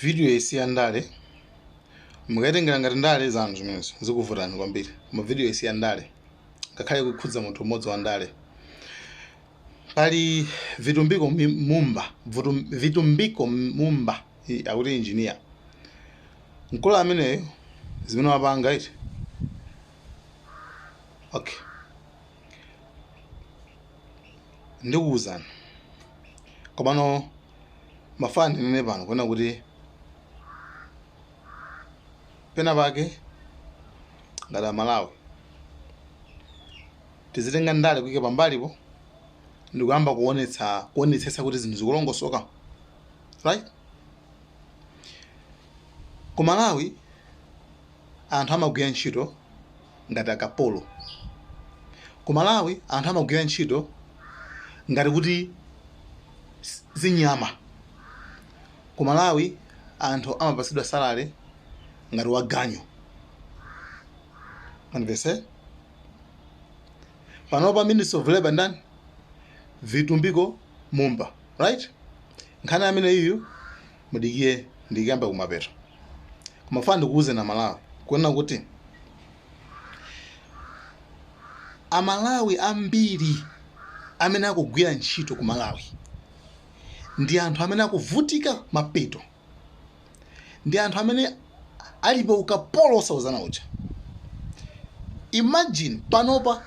video iyi si ya ndale mukayitengera ngati ndale zanu zimenezo zikuvutani kwambiri koma video iyi si ya ndale ngakhale kukhudza munthu umodzi wa ndale pali Vitumbiko mi- Mumba Vutum- Vitumbiko Mumba i- akuti engineer mkulu ameneyo zimene wapanga eti okay ndikuwuzani komano ndimafuna ndinene pano kunena kuti pena pake ngati amalawi tizitenga ndale kuike pambalipo ndi kuyamba kuonetsa kuonetsetsa kuti zinthu zikulongosoka right ku malawi anthu amagwira ntchito ngati akapolo. Ku Malawi anthu amagwira ntchito ngati kuti ndi nyama. Ku Malawi anthu amapatsidwa salary ngati waganyu. Mwandimvetsa? Panopa Minister of Labour ndani? Vitumbiko Mumba, right? Nkhani amene iyu mudikire ndikuyamba kumapeto koma mafuna ndikuwuzeni amalawi kunena kuti amalawi ambiri amene akugwira ntchito ku malawi ndi anthu amene akuvutika mapeto ndi anthu amene ali pa ukapolo osawuzana uja imagine panopa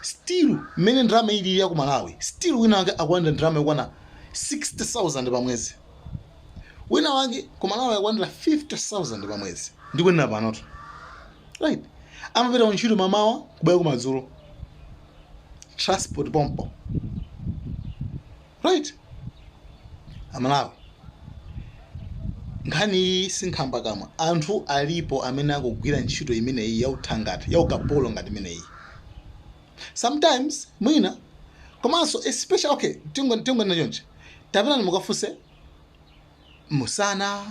still mmene ndalama ilili ya ku malawi still wina wake akulandira ndalama yokwana 60000 pa mwezi wina wake kumalawi akulandira 50000 pa mwezi ndikunena panotu right amapita kuntchito m'mamawa kubwera kumadzulo transport pompo right amalawi nkhani iyi sinkhamba kamwa anthu alipo amene akugwira ntchito imeneyi yauthangata yaukapolo ngati imeneyi sometimes mwina komanso especially okay tingo tingonena chonchi tapitani mukafunse musana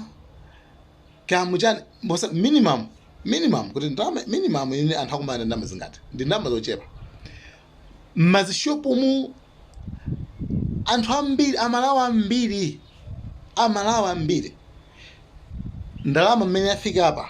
kamu chani mbosa minimum minimum kuti ndalama minimum imene anthu akumalandira ndalama zingati ndi ndalama zochepa m'mashopumu anthu ambiri amalawi ambiri amalawi ambiri ndalama mmene yafika apa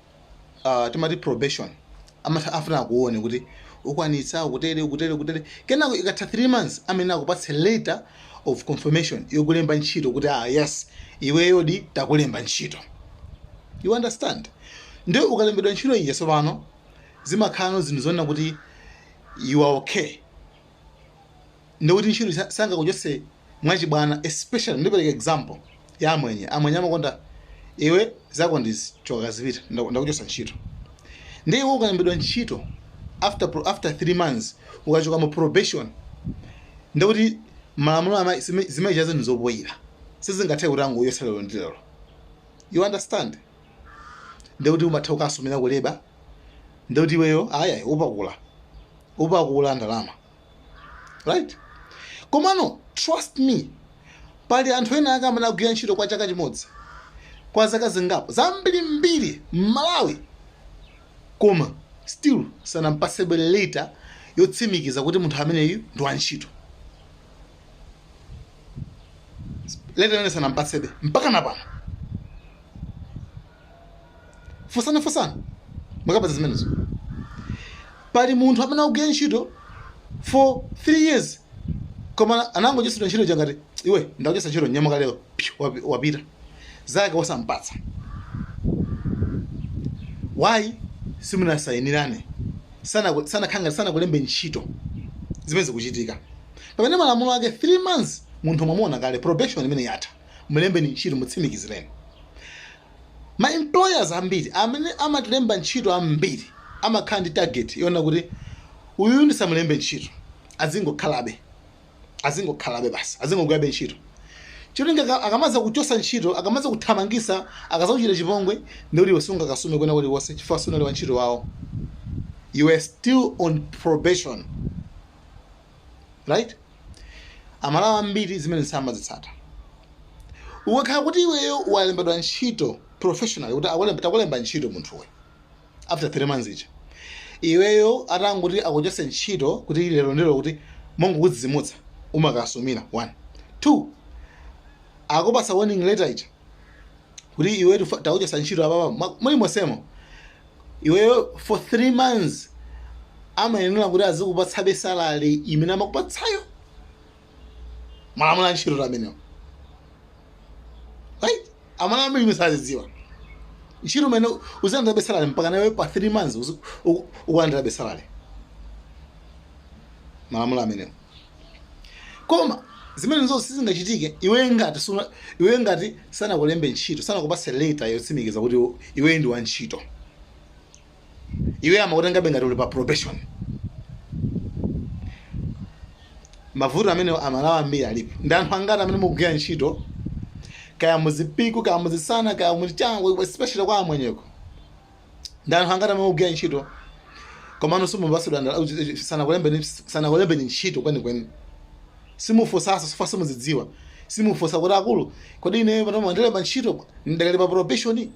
ah, timati probation amatha afuna akuone kuti ukwanitsa kutere kutere kutere kenako ikatha 3 months amene akupatse letter of confirmation yokulemba ntchito kuti ah yes iweyodi takulemba ntchito you understand ndiye ukalembedwa ntchito ija tsopano zimakhalano zinthu zonena kuti you are okay ndiye kuti ntchito sa- sangakuchotse mwachibwana especially ndipereka example ya amwenye amwenye amakonda iwe zako ndizi choka zipita ndaku- ndakuchotsa ntchito ndiye iwe ukalembedwa ntchito after pro- after 3 months ukachoka mu probation ndiye kuti malamulo ama zime- zimayicha zinthu zopoyira sizingathe kuti angokuchotsa lero ndi lero you understand ndiye kuti umatha kukasumira ku labour ndiye kuti iweyo ayayi upakula upakula ndalama right komano trust me pali anthu ena ake amene agwira ntchito kwa chaka chimodzi kwa zaka zingapo zambirimbiri m'malawi koma still sanampasebe leta yotsimikiza kuti munthu ameneyu ndi wantchito leta imene sanampasebe mpaka na pano Funsani funsani mukapeza zimenezo. Pali munthu amene akugwira ntchito for 3 years koma anangochotsedwa ntchito ija ngati iwe ndakuchotsa ntchito nyamuka lero pyu, wapi- wapita zake wosampatsa why simunasayinirane Sanaku- sanaku- sanakulembe ntchito zimene zikuchitika pamene malamulo ake 3 months munthu mwamuona kale probation imene yatha Mlembeni ntchito, mutsimikizireni. Ma employers ambiri amene amatilemba ntchito ambiri amakhala ndi target yonena kuti uyuyu ndisamulembe ntchito azingokhalabe azingokhalabe basi azingogwirabe ntchito cholinga aka- akamazakuchosa ntchito akamazakuthamangisa akazakuchita chipongwe ndikuti iwe sungakasume kwena kulikonse chifukwa sunali wa ntchito wawo you are still on probation right amalawi ambiri zimene samazitsata ukakhala kuti iweyo walembedwa ntchito professionally kuti akulemba- takulemba ntchito munthuwe after three months ija iweyo atangoti akuchotse ntchito kuti lero ndi lero kuti mongokudzidzimutsa umakasumira one two akupasa warning letter ija kuti iwe tufa- takuchotsa ntchito apapa mwa- muli monsemo iweyo for three months amayenera kuti azikupatsabe salary imene amakupatsayo malamulo a ntchito amenewo right amalawi ambiri zimene sazidziwa ntchito imene uzilandirabe salary mpakana iwe pa three months uzi- uku- ukulandirabe salary malamulo amenewo koma zimenezo sizingachitike iwe ngati suna- iwe ngati sanakulembe ntchito sanakupase leta yotsimikiza kuti iwe- iwe ndi wa ntchito iwe amakutengabe ngati uli pa probation mavuto amenewo amalawi ambiri alipo ndi anthu angati amene mukugwira ntchito kaya muzipiku kaya muzisana kaya muchango especially kwa amwenyeko ndi anthu angati amene mukugwira ntchito komano simupatsidwa ndalama sanakulembeni sanakulembeni ntchito kwenikweni simufunsaso sifa simuzidziwa simufunsa kuti akulu kodi ine pano mwandilemba ntchito ndakali pa probation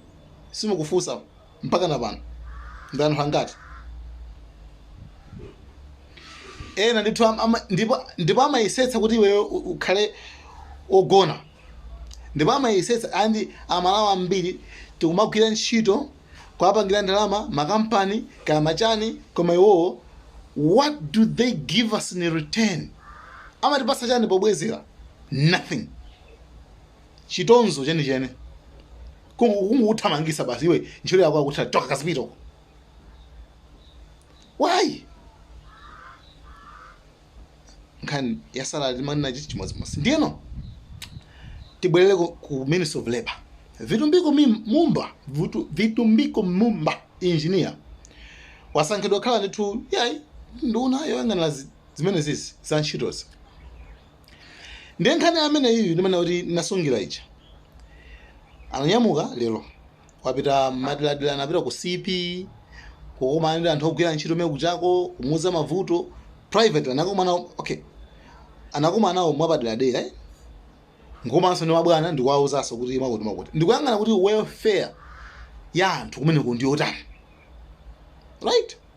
simukufunsa mpaka na pano ndi anthu angati ena ndithu am- ama- ndipo ndipo amayesetsa kuti iweyo u- ukhale ogona ndipo amayesetsa and amalawi ambiri tikumagwira ntchito kuwapangira ndalama makampani kaya ma chani koma iwowo what do they give us in return amatipatsa chani pobwezera nothing chitonzo chenicheni Kungu- kungokuthamangisa basi iwe ntchito yako akuti choka kazipita uko why nkhani ya salary timanena chiti chimodzimodzi ndiyeno tibwerere ku, ku ministry of labor vitumbiko Mim- mumba Vutu- vitumbiko mumba engineer wasankhidwa kukhala ndithu iyayi nduna yoyang'anira zi- zimene zizi za ntchitozi ndiye nkhani imene iyi ndimene kuti nasungira ija ananyamuka lero wapita m'maderadera anapita ku cp kukumana ndi anthu ogwira ntchito mene mukuchako kumuuza mavuto private anakumana okay anakumana nawo mwapaderadera eh? komanso ndi mabwana ndikuwauzanso kuti makuti makuti ndikuyang'ana kuti welfare ya anthu kumeneko ndiyotani right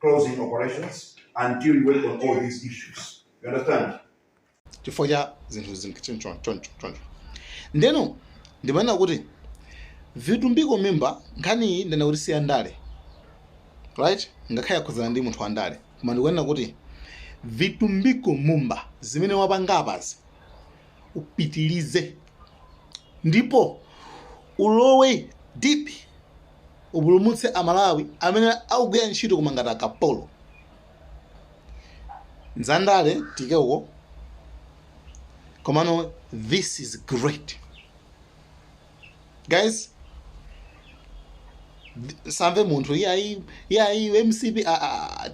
closing operations until you work on all these issues. You understand? chifukwa cha zinthu zinthu choncho choncho choncho ndeno ndimanena kuti vitumbiko mumba nkhani iyi ndinena kuti si ya ndale right ngakhale yakhudzana ndi munthu wa ndale koma ndikuona kuti vitumbiko mumba zimene wapanga apazi upitilize ndipo ulowe deep upulumutse amalawi amene akugwira ntchito koma ngati akapolo zandale tiike uko komano this is great guys th- ndisamve munthu iyayi iyayi mcp ah, ah, ah,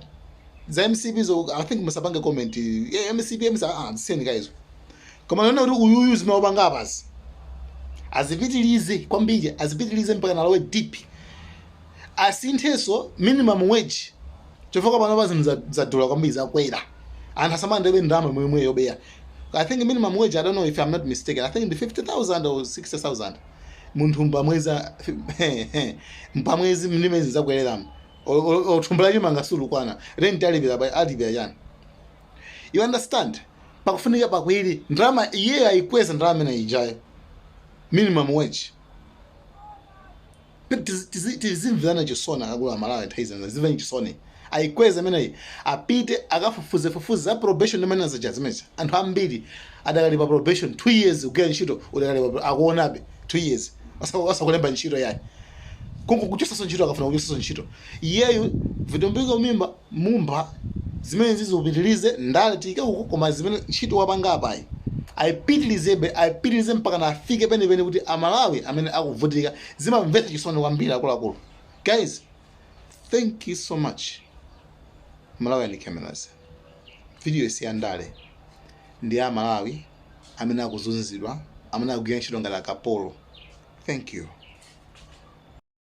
za mcp so i think musapange comment eh, mcp mcp ah, zisiyeni guys Koma naona kuti uyuyu zimene wapanga apazi azipitilize kwambiri, azipitilize mpaka nalowe deep, asinthenso minimum wage chifukwa pano pa zinthu za- zadula kwambiri zakwera, anthu asamalandirebe ndalama yomwe yomwe yobeya. I think minimum wage, I don't know if I'm not mistaken, I think ndi 50,000 or 60,000 munthu pamwezi pamwezi mmene zi zakwereramu thumba la chimanga silikwana renti alipira pa- alipira chani you understand pakufunika pakwiri ndalama iyeyo ayikweza ndalama imene ijayo minimum wage Tizi- tizi- tizimverana chisoni akuluakulu aMalawi nthawi zina tizimverana chisoni ayikweze imeneyi apite akafufuze fufuze za probation zimene ndimanena zija zimenezo anthu ambiri adakali pa probation 2 years kugwira ntchito udakali pa pro- akuonabe 2 years osa- osakulemba ntchito yayi kungokuchotsaso ntchito akafuna kukuchotsaso ntchito iyeyu vitumbiko mimba Mumba zimene izo apitilize ndale tiyike uko koma zimene ntchito wapanga apayi ayipitilizebe ayipitilize mpakana afike penipeni kuti aMalawi amene akuvutika zimamvetsa chisoni kwambiri akuluakulu guys thank you so much Malawian Cameras video iyi si ya ndale ndi ya aMalawi amene akuzunzidwa amene akugwira ntchito ngati akapolo thank you